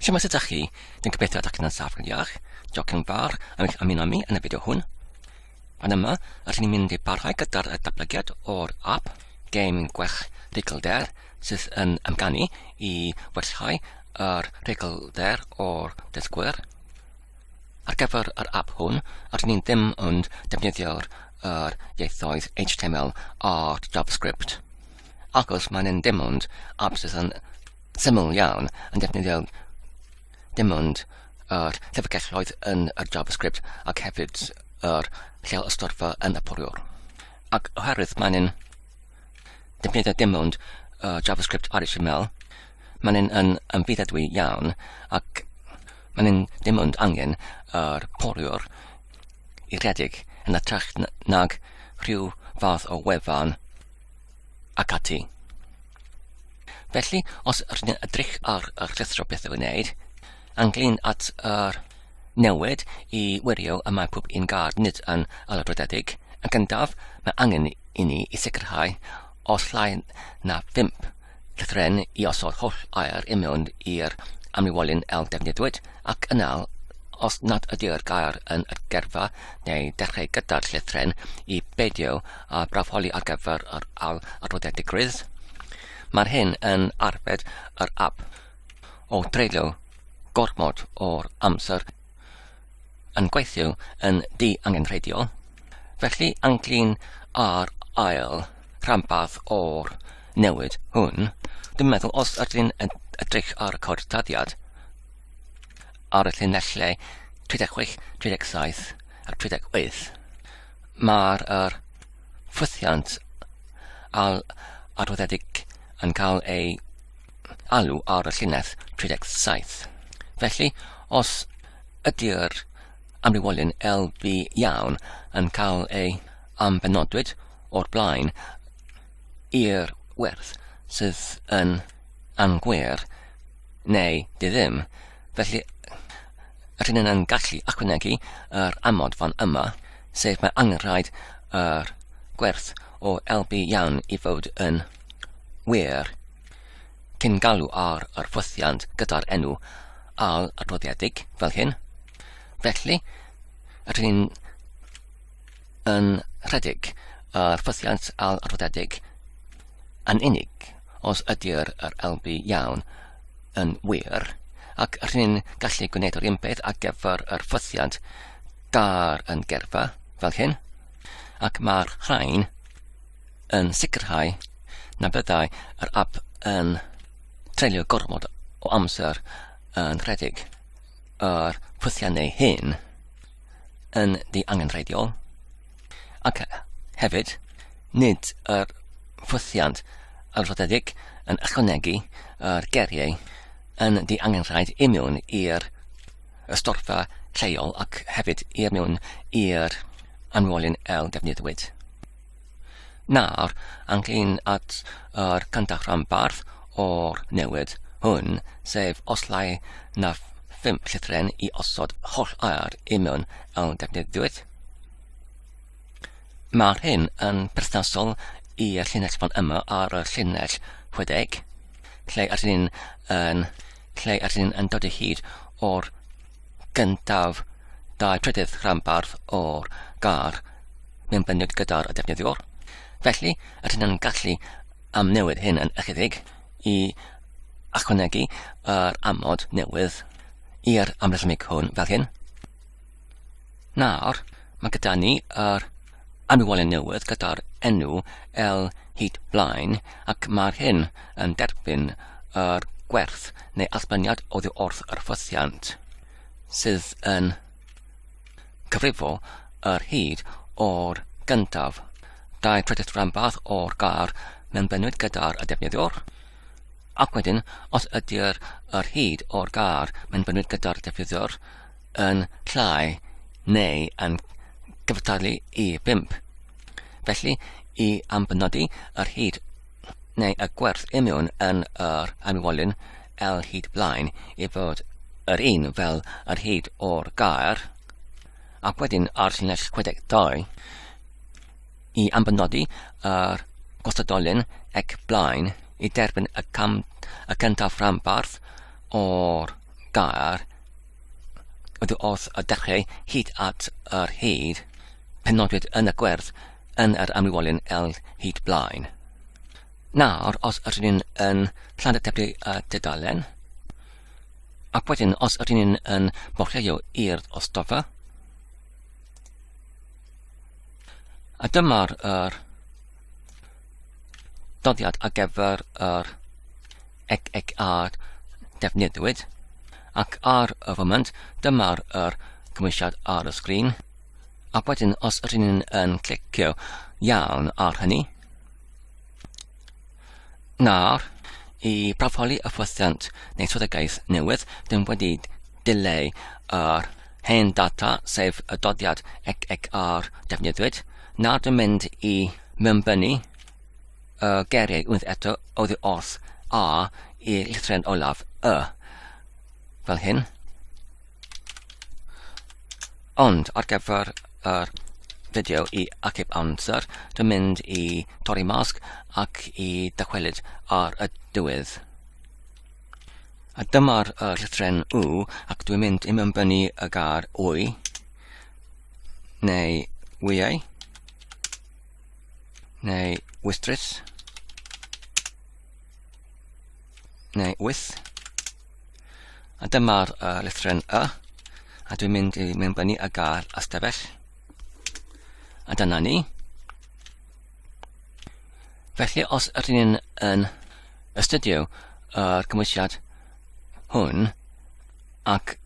Siamas ydych chi, dwi'n gobeithio ydych chi'n saff yn iach. Diolch yn fawr am eich ymuno mi yn y fideo hwn. Fan yma, rydyn ni'n mynd i barhau gyda'r datblygiad o'r app gêm gwech rhugl der sydd yn amganu i werthau yr rhugl der o'r dysgwyr. Ar gyfer yr app hwn, rydyn ni'n ddim yn defnyddio'r ieithoedd HTML a JavaScript. ac os maen nhw'n dim ond apps yn syml iawn yn defnyddio dim ond yr llyfrgelloedd yn y JavaScript ac hefyd yr lleol ystorfa yn y poriwr. Ac oherwydd maen nhw'n defnyddio dim ond uh, JavaScript ar HTML, maen nhw'n yn ymfudadwy iawn ac maen nhw'n dim ond angen yr poriwr i redeg yn y trach nag rhyw fath o wefan ac ati. Felly, os rydyn ni'n edrych ar y rhithro beth i'w wneud, anglyn at yr newid i wirio y mae pob un gard nid yn alabrodedig, yn gyntaf mae angen i ni i sicrhau os llai na 5 llythrennau i osod holl air i mewn i'r amlywolyn el defnyddiwyd ac yna'r os nad ydy'r gair yn adgerfa neu dechrau gyda'r llythren i beidio a brafoli ar gyfer yr al adroddiad digrydd. Mae'r hyn yn arbed yr ap o dreulio gormod o'r amser yn gweithio yn ddiangenrheidiol, felly anglyn ar ail rhanbarth o'r newid hwn, dwi'n meddwl os ydyn edrych ar y cod taddiad ar y llinellau 36, 37 a 38, mae'r er ffwythiant al adwyddedig yn cael ei alw ar y llinell 37. Felly, os ydy'r amrywiolyn LV iawn yn cael ei ambenodwyd o'r blaen i'r werth sydd yn angwer neu di ddim, felly rydyn yn gallu ychwanegu yr amod fan yma, sef mae angenrhaid yr gwerth o LB iawn i fod yn wir, cyn galw ar yr fwthiant gyda'r enw al adroddiedig fel hyn. Felly, rydyn ni'n yn rhedeg yr fwthiant al adroddiedig yn unig os ydy'r yr LB iawn yn wir, ac rydyn ni'n gallu gwneud yr un peth ar gyfer yr ffwthiant gar yn gerfa fel hyn, ac mae'r rhain yn sicrhau na byddai yr ap yn treulio gormod o amser yn rhedeg yr pwthiannau hyn yn di angenrheidiol ac hefyd nid yr pwthiant alfodedig yn ychwanegu yr geriau yn di angenrhaid i mewn i'r ystorfa lleol ac hefyd i mewn i'r anwolyn el defnyddiwyd. Nawr, ynglŷn at yr cyntaf rhanbarth o'r newid hwn, sef os llai na phum llythren i osod holl air i mewn awn defnyddiwyd. Mae'r hyn yn perthnasol i'r llinell fan yma ar y llinell 60, lle ydyn ni'n yn, lle ydyn ni'n dod o hyd o'r gyntaf dau trydydd rhanbarth o'r gar mewn bendith gyda'r defnyddiwr. Felly, rydyn nhw'n gallu amnewid hyn yn ychydig i ychwanegu yr amod newydd i'r amlethmig hwn fel hyn. Nawr, mae gyda ni yr anwylen newydd gyda'r enw L hyd blaen ac mae'r hyn yn derbyn yr gwerth neu allbyniad oddi wrth yr ffythiant sydd yn cyfrifo yr hyd o'r gyntaf. Dau trydydd rhanbarth o'r gar mewn benwyd gyda'r y defnyddiwr, ac wedyn, os ydy'r yr hyd o'r gar mewn benwyd gyda'r defnyddiwr, yn llai neu yn cyfartalu i bump. Felly, i ambenodi yr hyd neu y gwerth imiwn yn yr anwolyn L hyd blaen i fod yr un fel yr hyd o'r gair, ac wedyn ar llinell 62, i ambenodi yr gostadolyn ac blaen i derbyn y, cam, y cyntaf rhanbarth o'r gair ydw wrth y dechrau hyd at yr hyd penodwyd yn y gwerth yn yr amrywolyn L hyd blaen. Nawr, os ydyn ni'n yn llandetebu y dudalen, ac wedyn os ydyn ni'n yn borchleio i'r ostofa, A dyma'r er, doddiad ar gyfer yr ec ec a defnyddiwyd. Ac ar y foment, dyma'r er cymwysiad ar y sgrin. A wedyn, os rydyn yn clicio iawn ar hynny, Nawr, i broffoli hyfforddiant neu swyddogaeth newydd, dyn wedi dileu yr hen data, sef y dodiad ec ar defnyddiwyd. Nawr dwi'n mynd i mewnbynnu y geiriau unwaith eto oddi wrth A i llithren olaf Y, fel hyn. Ond, ar gyfer yr fideo i achub amser, dwi'n mynd i torri masg ac i dychwelyd ar y diwedd. A dyma'r er llythren U ac dwi'n mynd i mynbynnu y gar wy, neu wyau, neu wystrys, neu wyth, A dyma'r uh, lythren Y. A dwi'n mynd i mewn fyny a gael ystafell. A dyna ni. Felly os ydyn ni'n yn astudio yr cymwysiad hwn ac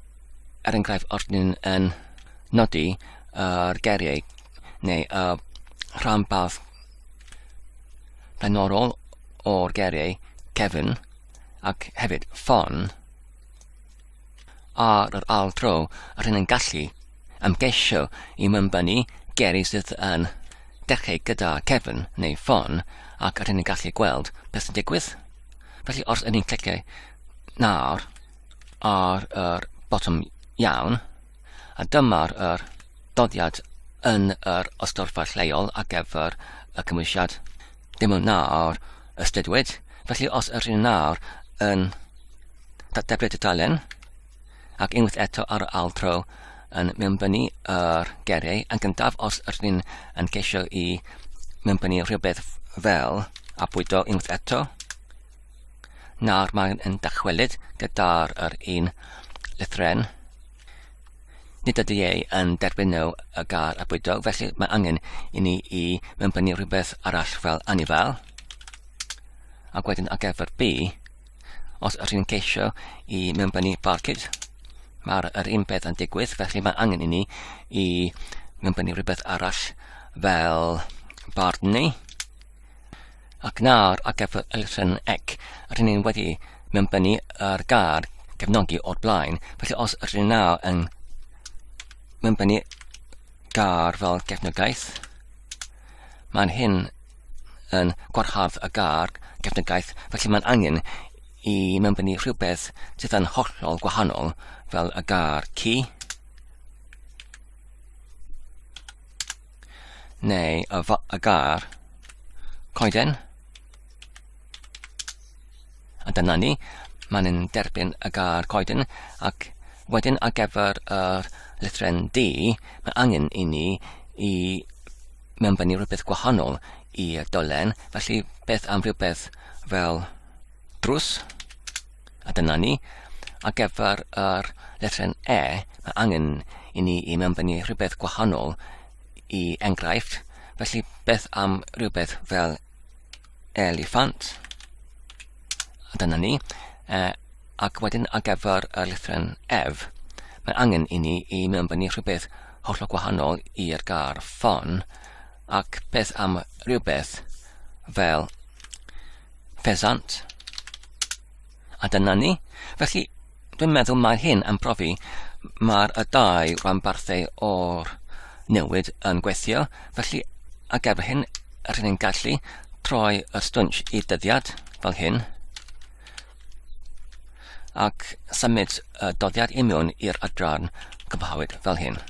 er enghraifft os ydyn ni'n yn nodi yr geriau neu y rhanbarth blaenorol o'r geriau Kevin ac hefyd ffon ar yr ail dro yr hyn yn gallu ymgeisio i mymbynnu geri sydd yn dechrau gyda cefn neu ffon ac yr hyn yn gallu gweld beth sy'n digwydd. Felly os ydyn ni'n clicio nawr ar yr botwm iawn, A dyma'r yr dodiad yn yr ystorfa lleol ar gyfer y cymwysiad. Dim ond nawr ystudwyd, felly os yr hyn nawr yn dateblu dudalen, ac unwaith eto ar y ail tro yn mewnbynnu yr geriau yn gyntaf os yr hyn yn ceisio i mewnbynnu rhywbeth fel a bwydo unwaith eto, Nawr mae'n yn dychwelyd gyda'r yr un lythren. Nid ydy ei yn derbyn nhw y gar a bwydog, felly mae angen i ni i mewnbynnu rhywbeth arall fel anifel. Ac wedyn ar gyfer B, os yr hyn ceisio i mewnbynnu barcud, mae'r yr un peth yn digwydd, felly mae angen i ni i mewnbynnu rhywbeth arall fel bardni. ac nawr ar gyfer Elusen Ec, rydyn ni wedi mewnbynnu ar gair gefnogi o'r blaen, felly os rydyn ni nawr yn mewnbynnu gair fel gefnogaeth, mae'n hyn yn gwarhardd y gar gefnogaeth, felly mae'n angen i mewnbynnu rhywbeth sydd yn hollol gwahanol fel y gar ci. neu y, y gar, coeden, a dyna ni, mae'n yn derbyn y gar coeden, ac wedyn ar gyfer yr lythren D, mae angen i ni i mewnfynnu rhywbeth gwahanol i dolen, felly beth am rhywbeth fel drws, A dyna ni. Ar gyfer yr lettren E, mae angen i ni i mewnbynnu rhywbeth gwahanol i enghraifft, felly beth am rhywbeth fel eliffant? A dyna ni. E, ac wedyn ar gyfer y lettren F, mae angen i ni i mewnbynnu rhywbeth hollol gwahanol i'r gar ffon, ac beth am rhywbeth fel ffesant? A dyna ni. Felly, dwi'n meddwl mae hyn yn profi mae'r y dau rhanbarthau o'r newid yn gweithio, felly a gefr hyn, rydyn ni'n gallu troi y stwnsh i dyddiad fel hyn, ac symud y doddiad i mewn i'r adran cyfhawyd fel hyn.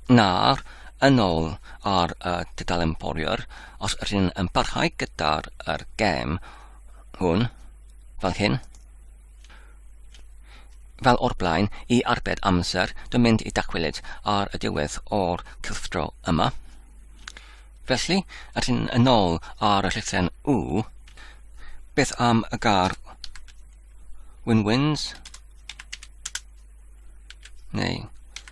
Nawr, yn ôl ar y tudalen Bowyer, os rydyn yn parhau gyda'r er gem hwn, fel hyn, fel o'r blaen, i arbed amser, dwi'n mynd i dacwelyd ar y diwedd o'r cylchdro yma. Felly, rydyn yn ôl ar y llythren U, beth am y gar win-wins, neu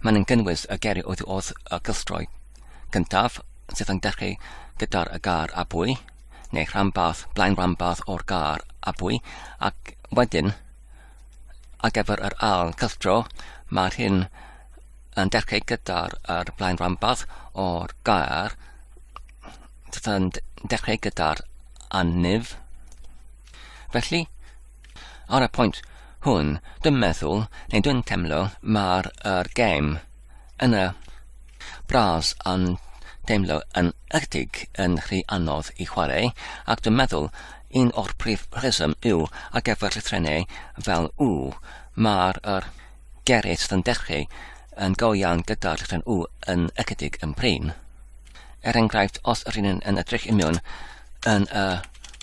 Maen yn gynnwys y geri oddi wrth y gylchdroi gyntaf sydd yn dechrau gyda'r y gar a bwy, neu rhanbarth, blaen rhanbarth o'r gar a bwy, ac wedyn ar gyfer yr ail cylchdro mae'r hyn yn dechrau gyda'r er blaen rhanbarth o'r gair sydd yn dechrau gyda'r anif. Felly, Ar y pwynt hwn, dwi'n meddwl, neu dwi'n teimlo, mae'r er gêm yn y Brâs yn teimlo yn ychydig yn rhy anodd i chwarae, ac dwi'n meddwl un o'r prif rheswm yw ar gyfer llythrennau fel u, mae'r er Gerrit van Dechree yn go iawn gyda'r rhan U yn ychydig yn prin. Er enghraifft, os yr un yn edrych i mewn yn y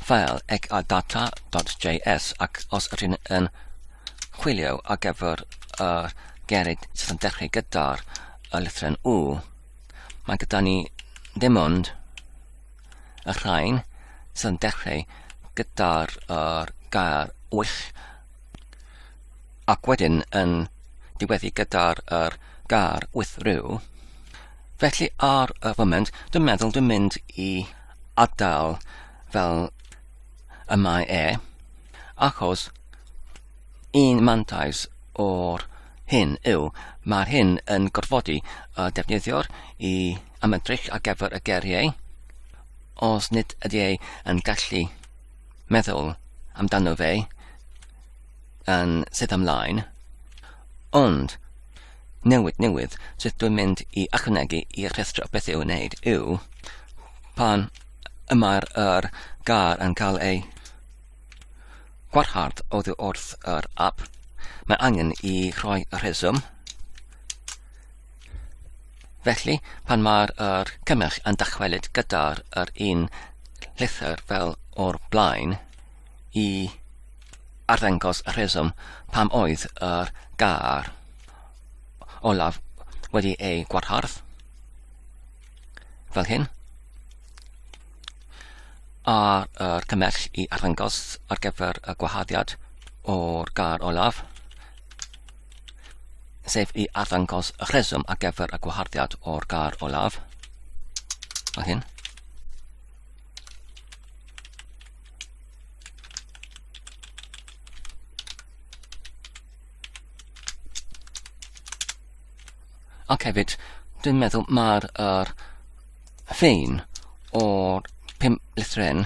ffael ec a data.js ac os yr un yn chwilio ar gyfer y gerid sydd yn dechrau gyda'r y lythren U, mae gyda ni ddim ond y rhain sydd yn dechrau gyda'r gair wych ac wedyn yn diweddu gyda'r er gar with rhyw. Felly ar y foment, dwi'n meddwl dwi'n mynd i adael fel y mae e, achos un mantais o'r hyn yw, mae'r hyn yn gorfodi y defnyddiwr i ymedrych ar gyfer y geriau, os nid ydy ei yn gallu meddwl amdano fe yn sydd ymlaen, ond newid newydd sydd dwi'n mynd i ychwanegu i'r rhestr o beth i'w wneud yw pan y mae'r yr gar yn cael ei gwarhard oddi wrth yr app, mae angen i rhoi rheswm Felly, pan mae'r er cynnyrch yn dychwelyd gyda'r er un llythyr fel o'r blaen i arddangos y rheswm pam oedd yr gair olaf wedi ei gwarhardd, fel hyn, a'r er cymell i arddangos ar gyfer y gwaharddiad o'r gair olaf, sef i arddangos y rheswm ar gyfer y gwaharddiad o'r gar olaf. Fel hyn. Ac hefyd, dwi'n meddwl mae'r er, ffein o'r pum litren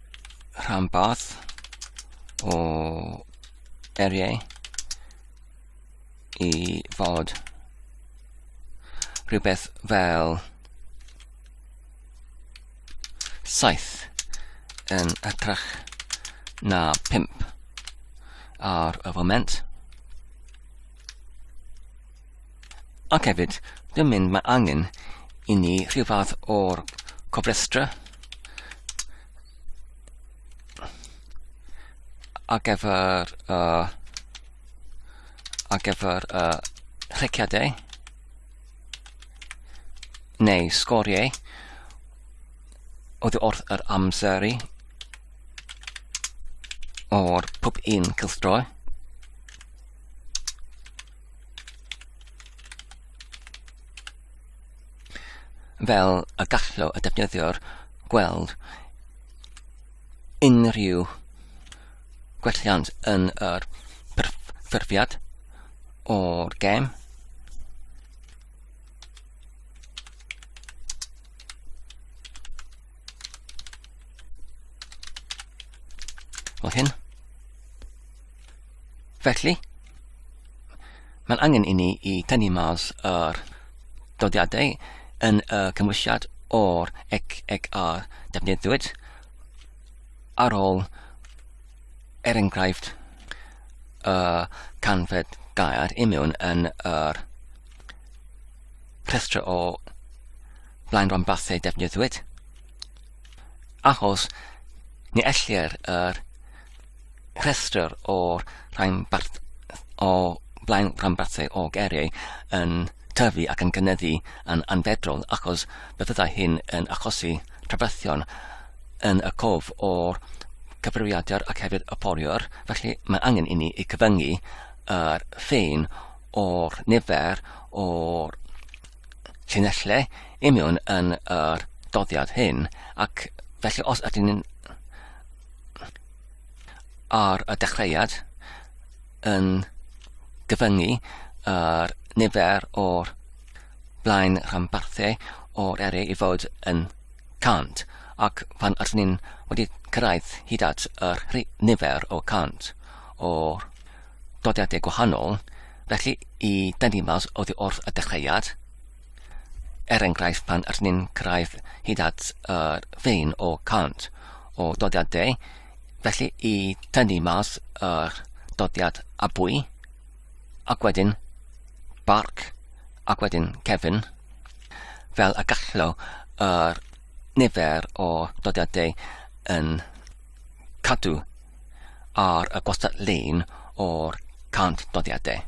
rhanbarth o eriau i fod rhywbeth fel saith yn atrach na pimp ar y foment. Ac hefyd, dwi'n mynd mae angen i ni rhyw fath o'r cofrestra ar gyfer, uh, ar gyfer uh, rheciadau neu sgoriau oedd wrth yr amseru o'r pub un cylchdroi. fel y gallo y defnyddiwr gweld unrhyw gwelliant yn yr ffurfiad o'r gem. Fel hyn. Felly, mae'n angen i ni i tynnu mas yr dodiadau yn y cymwysiad o'r ec ec a'r defnyddiwyd ar ôl er enghraifft y canfed gair imiwn yn yr rhestr o blaen rhanbarthau defnyddiwyd achos ni ellir yr rhestr o'r rhanbarth o flaen rhanbarthau o geriau yn tyfu ac yn cynyddu yn anfedrol achos fe fyddai hyn yn achosi trafferthion yn y cof o'r cyfrifiadur ac hefyd y poriwr, felly mae angen i ni i cyfyngu yr ffein o'r nifer o'r llinellau imiwn yn yr doddiad hyn, ac felly os ydyn ni'n ar y dechreuad yn gyfyngu ar nifer o'r blaen rhanbarthau o'r eri i fod yn 100 ac pan ydyn ni'n wedi cyrraedd hyd at yr nifer o 100 o'r dodiadau gwahanol, felly i dynnu mas oddi wrth y dechreuad, Er enghraifft, pan ydyn ni'n cyrraedd hyd at yr uh, fein o cant o dodiad de, felly i tynnu mas yr uh, dodiad abwy, ac wedyn barc, ac wedyn cefn, fel y gallo yr uh, nifer o dodiad de yn cadw ar y gwastad lein o'r cant dodiad de.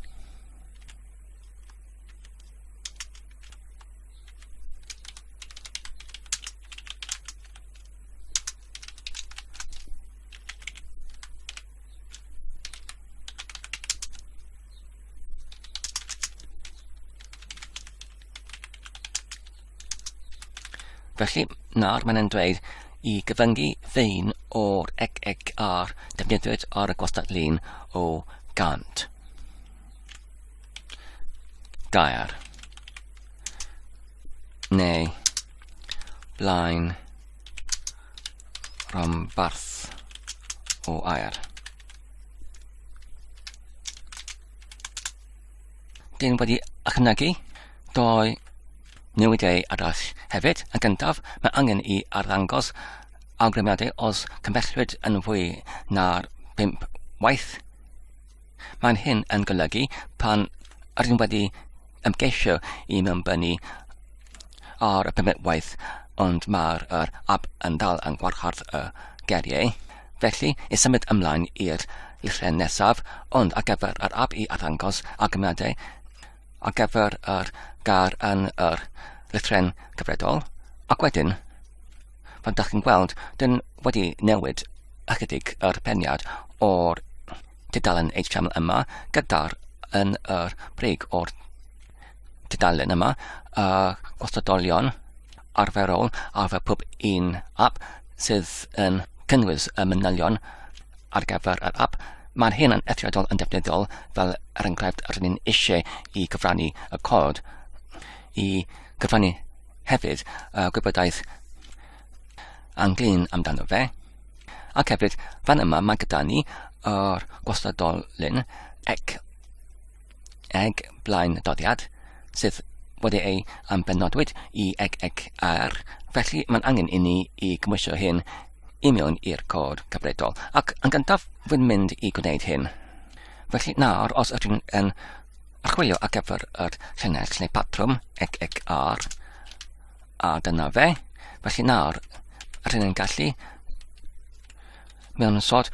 Felly, nawr mae'n e'n dweud i gyfyngu fein o'r ec ec ar defnyddiwyd ar y gwastad lun o gant. gair neu blaen rhanbarth o air. Dyn wedi ychwanegu doi newidiau arall hefyd. Yn gyntaf, mae angen i arddangos awgrymiadau os cymbellwyd yn fwy na'r 5 waith Mae'n hyn yn golygu pan rydym wedi ymgeisio i mewnbynnu ar y permit waith ond mae'r er ab yn dal yn gwarchod y geriau. Felly, i symud ymlaen i'r llythrau nesaf, ond ar gyfer yr ab i arddangos argymiadau ar gyfer yr gair yn yr llythrau cyfredol, ac wedyn fel da chi'n gweld, dyn wedi newid ychydig yr peniad o'r tudalen HTML yma gyda'r yn yr brig o'r tudalen yma, y gwastadolion arferol ar fe pob un app sydd yn cynnwys y manylion ar gyfer yr app, mae'r hyn yn eithriadol yn defnyddiol fel er enghraifft rydyn ni'n eisiau i gyfrannu y cod i gyfrannu Hefyd, y gwybodaeth anglyn amdano fe. Ac hefyd, fan yma mae gyda ni yr gwastadolyn ec eg blaen doddiad sydd wedi ei ambenodwyd i eg eg ar. Felly mae'n angen i ni i gymwysio hyn i mewn i'r cod cyfredol. Ac yn gyntaf, wy'n mynd i gwneud hyn. Felly nawr, os ydyn yn Archwilio ar gyfer yr llinell neu patrwm, ec ec ar, a dyna fe. Felly nawr, rydyn ni'n gallu mewn sod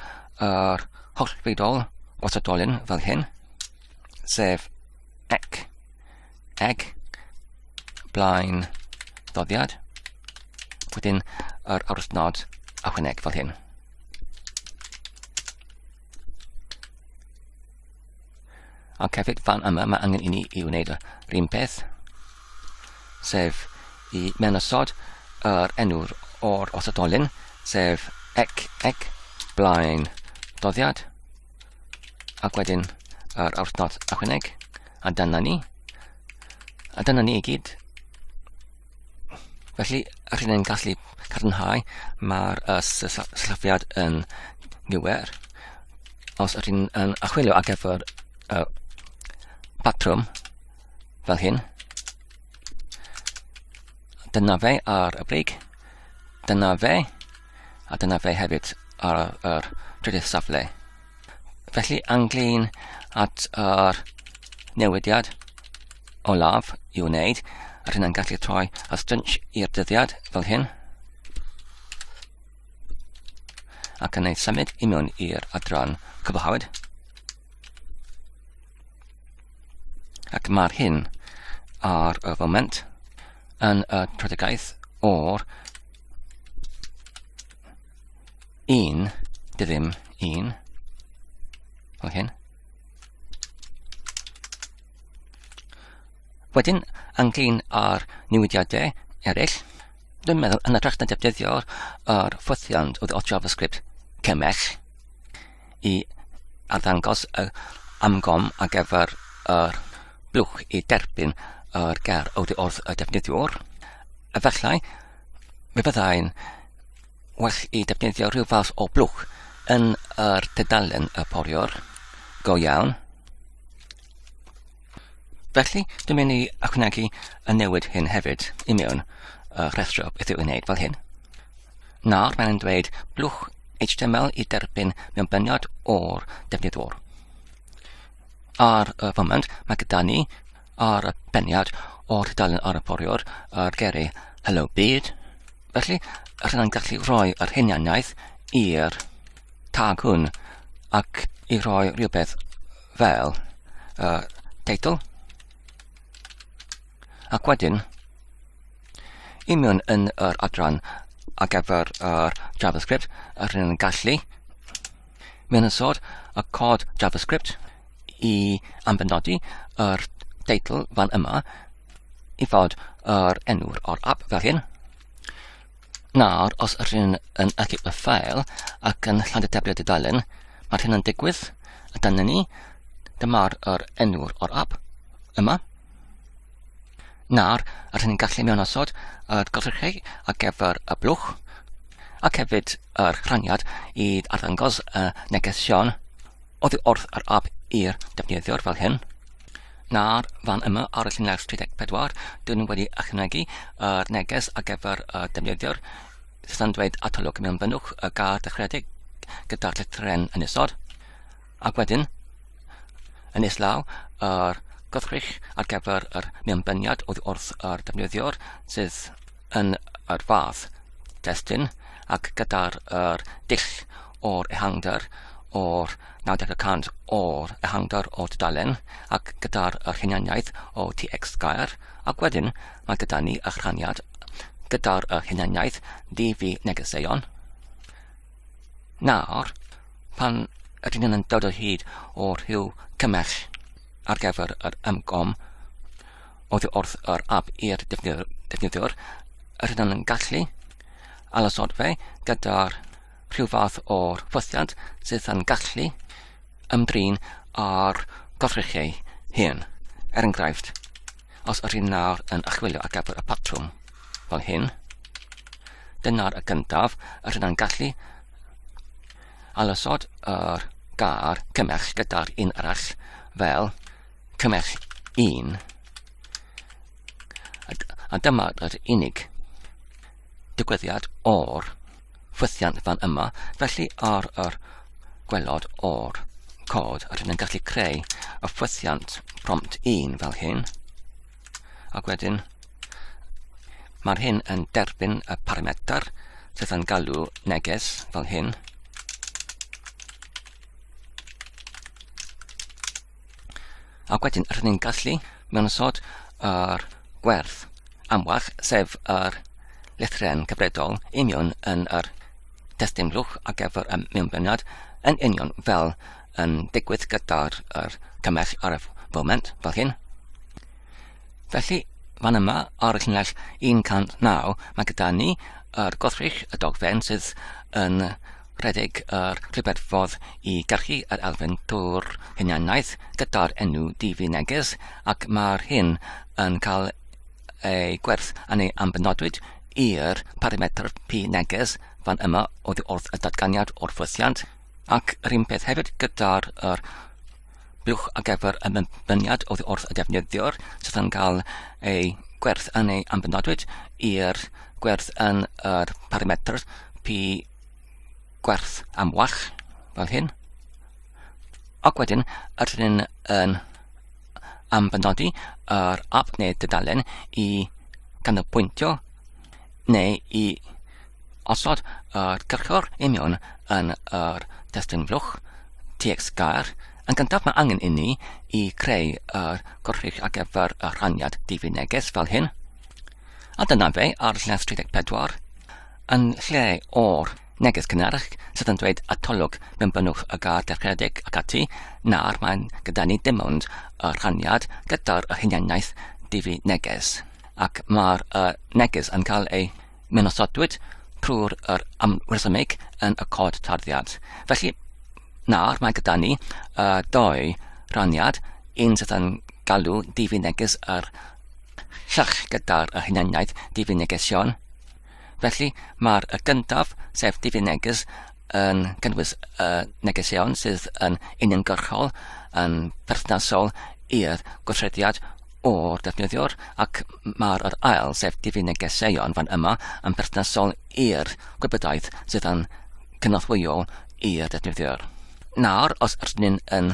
yr holl fidol gwasadolyn fel hyn, sef ec, ec, blaen ddoddiad, wedyn yr awrthnod a hwyneg fel hyn. Ac hefyd fan yma mae angen i ni i wneud yr un peth, sef i menosod yr enw'r o'r osodolyn, sef ec, ec, blaen doddiad, ac wedyn yr awrthnod ychwaneg, a dyna ni. A dyna ni i gyd. Felly, yr hyn yn gallu cadarnhau, mae'r uh, syllifiad yn gywir. Os yr hyn yn achwilio ar gyfer uh, patrwm fel hyn, dyna fe ar y brig, dyna fe, a dyna fe hefyd ar yr trydydd safle. Felly anglyn at yr newidiad olaf i wneud, a rhywun yn gallu troi a stynch i'r dyddiad fel hyn, ac yn ei symud i mewn i'r adran cyfahawyd. Ac mae'r hyn ar y foment yn y prodegaeth o'r un dy ddim un o hyn. Wedyn, ynglyn â'r newidiadau eraill, dwi'n meddwl yn y na defnyddio'r ffothiant oedd o JavaScript cymell, i arddangos y amgom ar gyfer yr blwch i derbyn yr ger oddi wrth y defnyddiwr. Efallai, mi fyddai'n well i defnyddio rhyw fath o blwch yn yr tydalen y poriwr. Go iawn. Felly, dwi'n mynd i ychwanegu y newid hyn hefyd i mewn uh, rhestro beth i'w wneud fel hyn. Nawr mae'n dweud blwch HTML i derbyn mewn byniad o'r defnyddwr. Ar y foment, mae gyda ni ar y beniad o'r tudalen ar y poriwr ar geri Hello Byd. Felly, allan yn gallu rhoi yr hunianiaeth i'r tag hwn ac i roi rhywbeth fel uh, title ac wedyn i mewn yn yr adran ar gyfer yr JavaScript a rydyn yn gallu mewn yn sod y cod JavaScript i anfynodi yr teitl fan yma i fod yr enw'r o'r app fel hyn Nawr, os ydych chi'n yn edrych y ffael ac yn lladd y tablet dudalen, mae'r hyn yn digwydd. A dan ni, dyma'r er enw'r o'r app yma. Nawr, yr hyn yn gallu mewn osod yr golchigau ar gyfer y blwch ac hefyd yr rhaniad i arddangos y neges Siôn oddi wrth yr app i'r defnyddiwr fel hyn. Na'r fan yma ar y lluniau 34, dyn nhw wedi ychwanegu yr neges ar gyfer y defnyddiwr sydd yn dweud atolwg mewn fynnwch y gar dechredig gyda'r llethren yn isod. Ac wedyn, yn islaw, yr gwrthrych ar gyfer yr mewnbyniad oddi wrth yr defnyddiwr sydd yn yr fath destun ac gyda'r yr dull o'r ehangder o'r 90 y cant o'r ehangder o'r dudalen ac gyda'r yr hunaniaeth o TX gair ac wedyn mae gyda ni y rhaniad gyda'r yr hunaniaeth DV negeseuon. Nawr, pan ydyn nhw'n dod o hyd o'r rhyw cymell ar gyfer yr ymgom, oddi wrth yr app i'r defnyddiwr, yr hyn yn gallu alasod fe gyda'r rhyw fath o'r ffothiant sydd yn gallu ymdrin â'r gorchrychau hyn. Er enghraifft, os yr hyn nawr yn achwilio ar gyfer y patrwm fel hyn, dyna'r y gyntaf, yr hyn yn gallu alasod yr gar cymell gyda'r un arall fel Cymell un. A dyma yr unig digwyddiad o'r ffwythiant fan yma, felly ar yr gwelod o'r cod, rydyn ni'n gallu creu y ffwythiant prompt 1 fel hyn, ac wedyn mae'r hyn yn derbyn y parametr sydd yn galw neges fel hyn, Ac wedyn, rydyn ni'n gallu mewn ysod yr gwerth amwell, sef yr lethren cyfredol union yn yr testyn lwch ar gyfer y mewnbyniad yn union fel yn digwydd gyda'r er cymell ar y foment fel hyn. Felly, fan yma ar y llunell 109 mae gyda ni yr er goddrych y dogfen sydd yn Rhedeg yr Rhyfeddfod i gyrchu yr elfen trwy'r hunaniaeth gyda'r enw DV Neges ac mae'r hyn yn cael ei gwerth yn ei ambenodwyd i'r parametr P Neges fan yma oddi wrth y datganiad o'r ffwythiant ac yr un peth hefyd gyda'r yr blwch ar gyfer y mynyniad oddi wrth y defnyddiwr sydd yn cael ei gwerth yn ei ambenodwyd i'r gwerth yn yr parametr P gwerth amlach, fel hyn. Ac wedyn, ydyn ni'n yn ambenodi yr app neu dydalen i ganolbwyntio neu i osod yr cyrchor i mewn yn yr testyn flwch TX gair. Yn gyntaf mae angen i ni i creu yr gorchrych ar gyfer y rhaniad difyr neges fel hyn. a dyna fe ar lles 34, yn lle o'r neges cynharach sydd yn dweud atolwg mewn bynnwch y gar dechredig ac ati, na'r mae'n gyda ni dim ond y rhaniad gyda'r y hunianiaeth difi neges, ac mae'r y neges yn cael ei mynosodwyd trwy'r yr amresymig yn y cod tarddiad. Felly, na'r mae gyda ni y doi rhaniad, un sydd yn galw difi neges yr llach gyda'r y hunaniaeth difinegesion. Felly, mae'r y gyntaf, sef difineges, yn cynnwys y negesion sydd yn uniongyrchol yn perthnasol i'r gweithrediad o'r defnyddiwr ac mae'r yr ail, sef difinegeseion fan yma, yn perthnasol i'r gwybodaeth sydd yn cynorthwyol i'r defnyddiwr. Nawr, os rydyn ni'n yn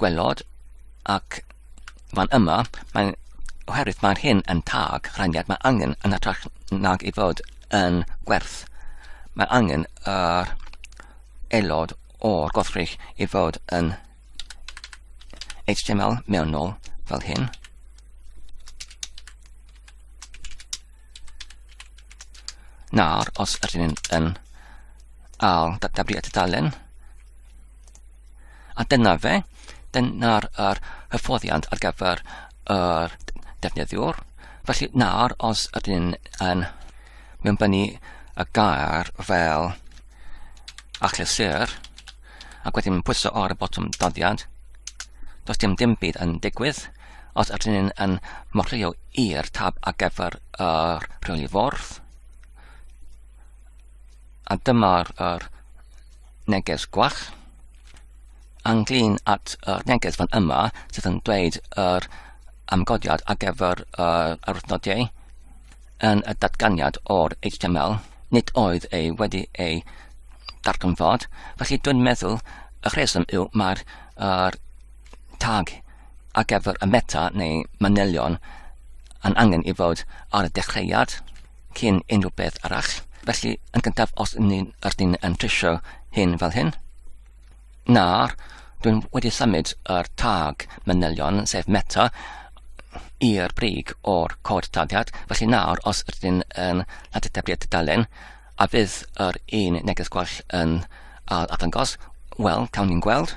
Gwelod, ac fan yma, mae'n oherwydd mae'r hyn yn tag rhaniad mae angen yn hytrach nag ei fod yn gwerth. Mae angen yr aelod o'r gothrych i fod yn HTML mewnol fel hyn. Nawr, os ydyn ni'n yn al databriad tudalen, A dyna fe, dyna'r er hyfforddiant ar gyfer yr defnyddiwr. Felly nawr, os ydyn yn mynnu y gair fel achlysur, ac wedyn pwyso ar y botwm doddiad, does dim dim byd yn digwydd. Os ydyn yn morlio i'r tab ar gyfer yr rheoli fwrdd, a dyma'r er neges gwach ynglyn at y neges fan yma sydd yn dweud yr amgodiad ar gyfer yr arwythnodiau yn y datganiad o'r HTML. Nid oedd ei wedi ei darganfod, felly dwi'n meddwl y rheswm yw mae'r er, tag ar gyfer y meta neu manylion yn angen i fod ar y dechreuad. cyn unrhyw beth arall. Felly, yn gyntaf, os ni'n ydyn yn trisio hyn fel hyn, na'r dwi'n wedi symud yr tag manylion, sef meta, i'r brig o'r cod tagiad, felly nawr os ydyn yn lladetebliad tudalen, a bydd yr un neges gwell yn ail atangos, wel, cawn ni'n gweld.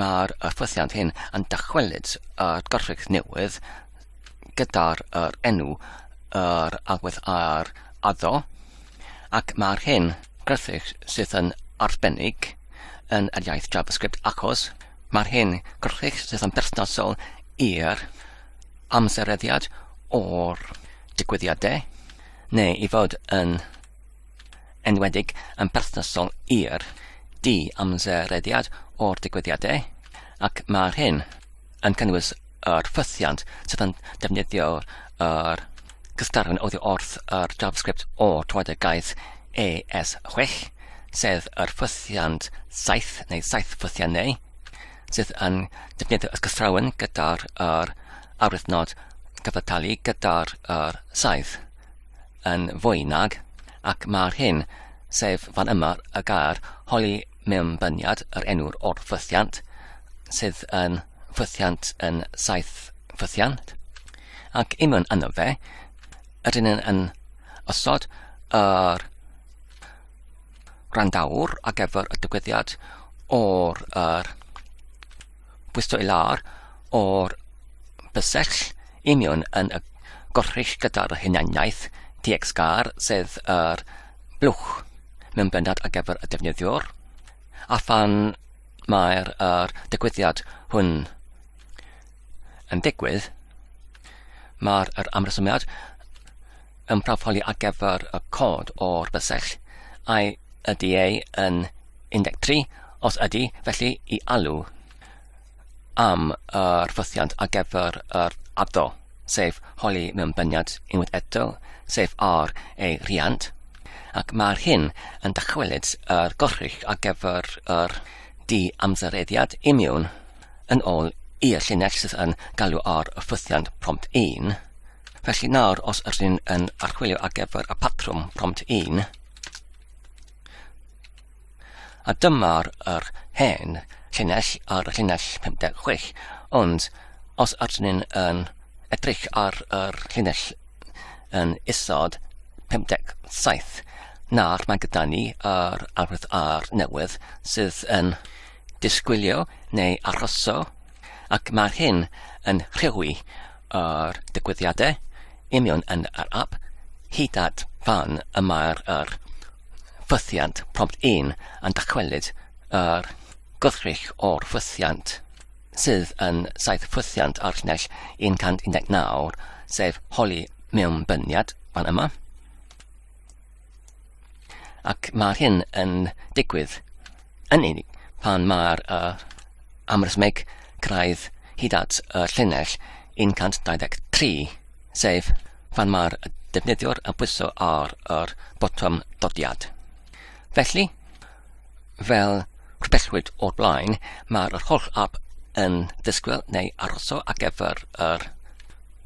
Mae'r ffythiant hyn yn dychwelyd at gorffig newydd gyda'r er enw yr agwedd ar addo ac mae'r hyn gorffig sydd yn arbennig yn yr iaith JavaScript achos mae'r hyn gorffig sydd yn berthnasol i'r amsereddiad o'r digwyddiadau neu i fod yn enwedig yn berthnasol i'r di-amserediad o'r digwyddiadau, ac mae'r hyn yn cynnwys yr ffythiant sydd yn defnyddio yr cystadleuaeth oddi wrth yr JavaScript o troed y gaeth AS6, sef yr ffythiant saith neu saith ffythiannau, sydd yn defnyddio y cystrawn gyda'r yr arwyddnod cyfatelu gyda'r yr saith. yn fwy nag, ac mae'r hyn, sef fan yma y gair holi mewn byniad yr enw'r o'r ffythiant, sydd yn ffythiant yn saith ffythiant, ac imwn yno fe, ydyn yn, yn osod yr randawr ar gyfer y digwyddiad o'r yr bwyso i lawr o'r bysell i mewn yn y gorchull gyda'r hunaniaeth TXGAR sef yr blwch mewn bendant ar gyfer y defnyddiwr a phan mae'r er, digwyddiad hwn yn digwydd mae'r er amrysumiad yn proffoli ar gyfer y cod o'r bysell, ai ydy ei yn 13, os ydy, felly i alw am yr ffythiant ar gyfer yr addo, sef holi mewn byniad unwaith eto, sef ar ei rhiant, ac mae'r hyn yn dychwelyd yr gorrych ar gyfer yr di amsereddiad imiwn yn ôl i'r llinell sydd yn galw ar y ffythiant prompt 1, Felly nawr, os ydyn yn archwilio ar gyfer y patrwm prompt 1, a dyma'r yr hen llinell ar y llinell 56, ond os ydyn yn edrych ar yr llinell yn isod 57, nawr mae gyda ni yr arwydd ar newydd sydd yn disgwylio neu arhoso ac mae'r hyn yn rhewi yr digwyddiadau union yn yr ap, hyd at fan y mae'r yr ffythiant prompt 1 yn dychwelyd yr gwrthrych o'r ffythiant, sydd yn saith ffythiant ar llinell 119, sef holi mewnbyniad, fan yma. Ac mae'r hyn yn digwydd yn unig pan mae'r uh, amrysmeg craidd hyd at y llinell 123, sef pan mae'r defnyddiwr yn pwyso ar yr botwm dodiad. Felly, fel rhywbellwyd o'r blaen, mae'r holl app yn disgwyl neu aroso ar gyfer yr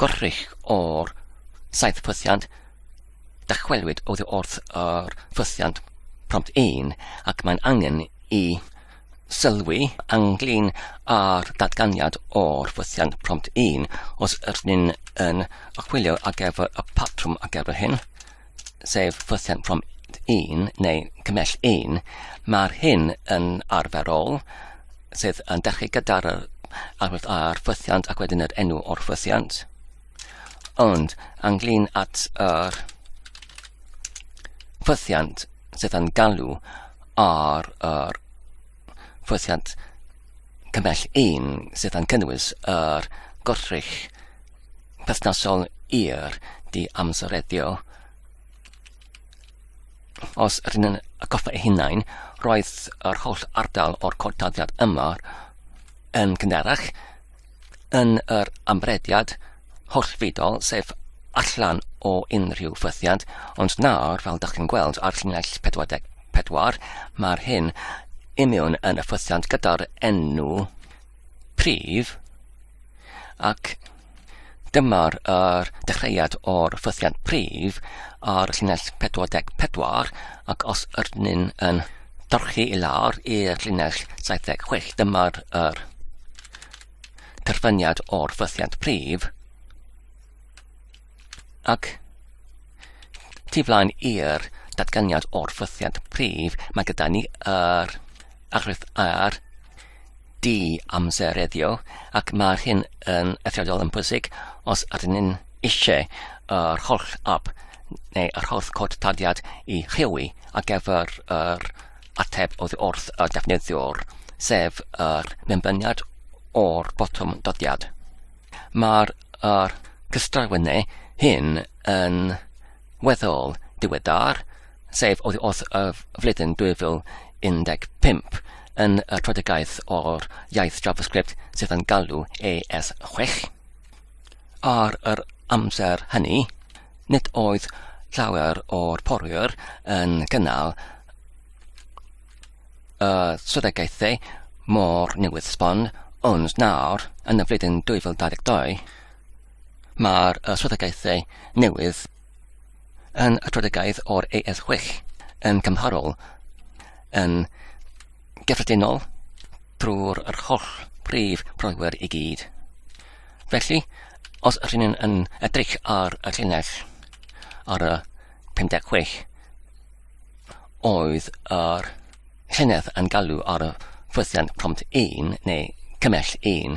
gorrych o'r saith pwythiant Dychwelwyd oddi wrth yr ffwythiant prompt un ac mae'n angen i sylwi ynglŷn â'r datganiad o'r ffwythiant prompt un os ydyn ni'n yn chwilio ar gyfer y patrwm ar gyfer hyn, sef ffwythiant prompt un neu cymell un. Mae'r hyn yn arferol, sydd yn dechrau gyda'r arwydd a'r ffwythiant ac wedyn yr enw o'r ffwythiant. Ond, ynglŷn at yr ffwythiant sydd yn galw ar yr ffwythiant cymell un sydd yn cynnwys yr gwrthrych perthnasol i'r diamsereddio, os rydyn ni'n atgoffa ei hunain, roedd yr holl ardal o'r cod tarddiad yma yn cynharach yn yr amrediad hollfidol, sef allan o unrhyw fythiad, ond nawr, fel dych chi'n gweld ar llinell 44, mae'r hyn imiwn yn y fythiant gyda'r enw prif, ac dyma'r er, dechreuad o'r fythiant prif ar llinell 44, ac os yrnyn yn dorchi i lawr i'r llinell 76, dyma'r er, terfyniad o'r ffythiant prif ac tu flaen i'r datganiad o'r ffythiant prif, mae gyda ni yr aghrif ar di amsereddio ac mae'r hyn yn eithriadol yn pwysig os ydyn ni'n eisiau yr holl ab neu yr holl cod tadiad i rhewi ar gyfer yr ateb oddi wrth y defnyddiwr, sef yr ymlyniad o'r botwm dyddiad. Mae'r er cystrawennu hyn yn weddol diweddar, sef oddi wrth y flwyddyn 2015 yn y troedigaeth o'r iaith JavaScript sydd yn galw AS6. Ar yr amser hynny, Nid oedd llawer o'r porwyr yn cynnal y swyddogaethau mor newydd sbon, ond nawr, yn y flwyddyn 2022, mae'r swyddogaethau newydd yn y Troedfegaeth o'r AS6 yn cymharol yn gyffredinol drwy'r yr holl brif broewyr i gyd. Felly, os ydyn ni'n yn edrych ar y llinell ar y 56 oedd yr llynedd yn galw ar y ffwythiant prompt 1 neu cymell 1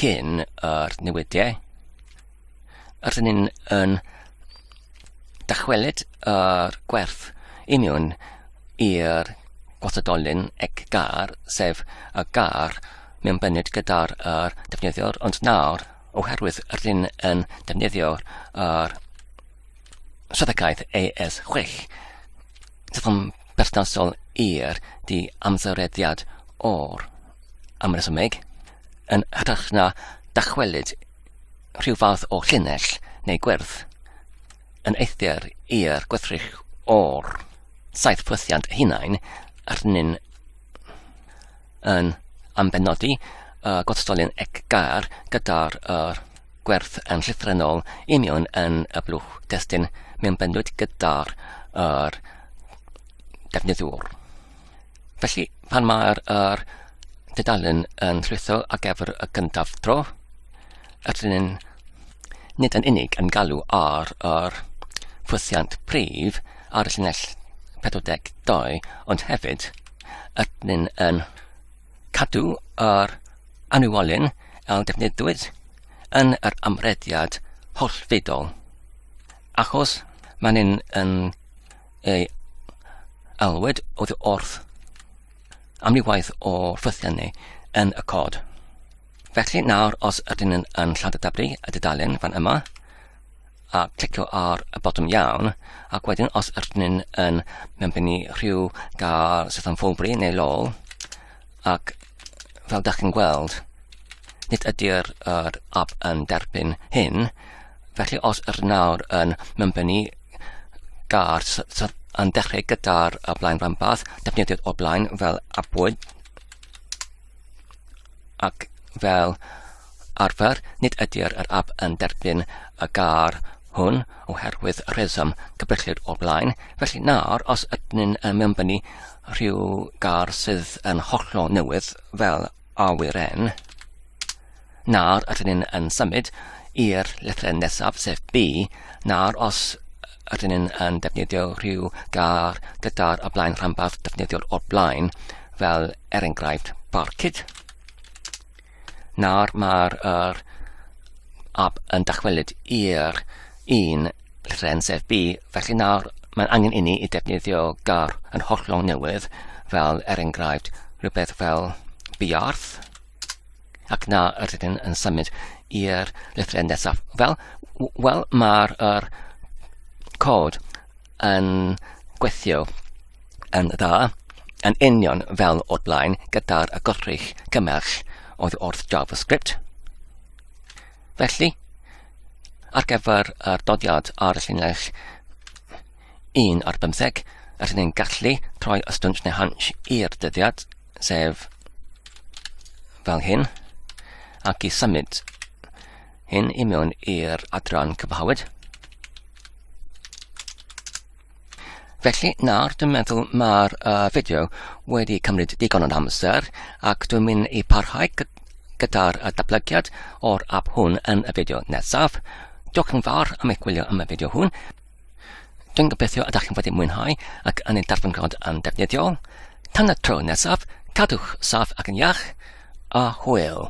cyn yr newidiau Rydyn ni'n yn dychwelyd yr gwerth union i'r gwathadolyn ec gar, sef y gar mewn byned gyda'r er defnyddiwr, ond nawr, oherwydd rydyn yn defnyddio'r er swyddogaeth AS6, sydd yn berthnasol i'r di amsereddiad o'r amresymeg, yn hytrach na dychwelyd rhyw fath o llinell neu gwyrdd yn eithr i'r gwrthrych o'r saith pwythiant eu hunain arnyn yn ambenodi y gwrthstolyn eggar gyda'r er gwerth yn llythrennol i mewn yn y blwch testun mewnbynwyd gyda'r er defnyddiwr. Felly, pan mae'r er dudalen yn llwytho ar gyfer y gyntaf tro, ydyn ni'n nid yn unig yn galw ar yr ffwythiant prif ar y llinell 42, ond hefyd ydyn ni'n yn cadw yr anwolyn a defnyddiwyd yn yr amrediad hollfedol, achos mae'n yn ei alwed oedd wrth amrywaith o ffythiannau yn y cod. Felly nawr, os ydyn yn, yn lladdadablu y dudalen fan yma, a clicio ar y botwm iawn, ac wedyn os ydyn yn mewnbynnu rhyw gael sydd yn ffwlbri neu lol, Ac fel dach chi'n gweld, nid ydy'r yr app yn derbyn hyn, felly os yr nawr yn mynbynnu gar yn dechrau gyda'r y blaen rhanbarth, defnyddiwyd o blaen fel abwyd ac fel arfer, nid ydy'r yr app yn derbyn y gar hwn oherwydd rheswm cybrillid o blaen. Felly nawr, os ydyn yn mynbynnu rhyw gar sydd yn hollol newydd fel awyren, na'r ydyn ni'n yn symud i'r llythryn nesaf sef B, na'r os ydyn ni'n yn defnyddio rhyw gar gyda'r y blaen rhanbarth defnyddiol o'r blaen, fel er enghraifft barcud. Nawr mae'r er ab yn dychwelyd i'r un llen sef B, felly nawr mae'n angen inni i defnyddio gar yn hollol newydd, fel er enghraifft rhywbeth fel biarth, ac na yr ydyn yn symud i'r llythrau nesaf. Wel, wel mae'r er cod yn gweithio yn dda, yn union fel o'r blaen gyda'r agorrych cymell oedd wrth JavaScript. Felly, ar gyfer yr dodiad ar y llinell 1 ar 15, rydyn ni'n gallu troi y stwnt neu hansh i'r dyddiad, sef fel hyn, ac i symud Hyn i mewn i'r adran cyfhawyd. Felly nawr dwi'n meddwl mae'r uh, fideo wedi cymryd digon o amser ac dwi'n mynd i parhau gyda'r datblygiad o'r app hwn yn y fideo nesaf. Diolch yn fawr am eich gwylio am y fideo hwn. Dwi'n gobeithio ydych chi'n wedi mwynhau ac yn ei darfyngrod yn defnyddiol. Tan y tro nesaf, cadwch saff ac yn iach, a hwyl!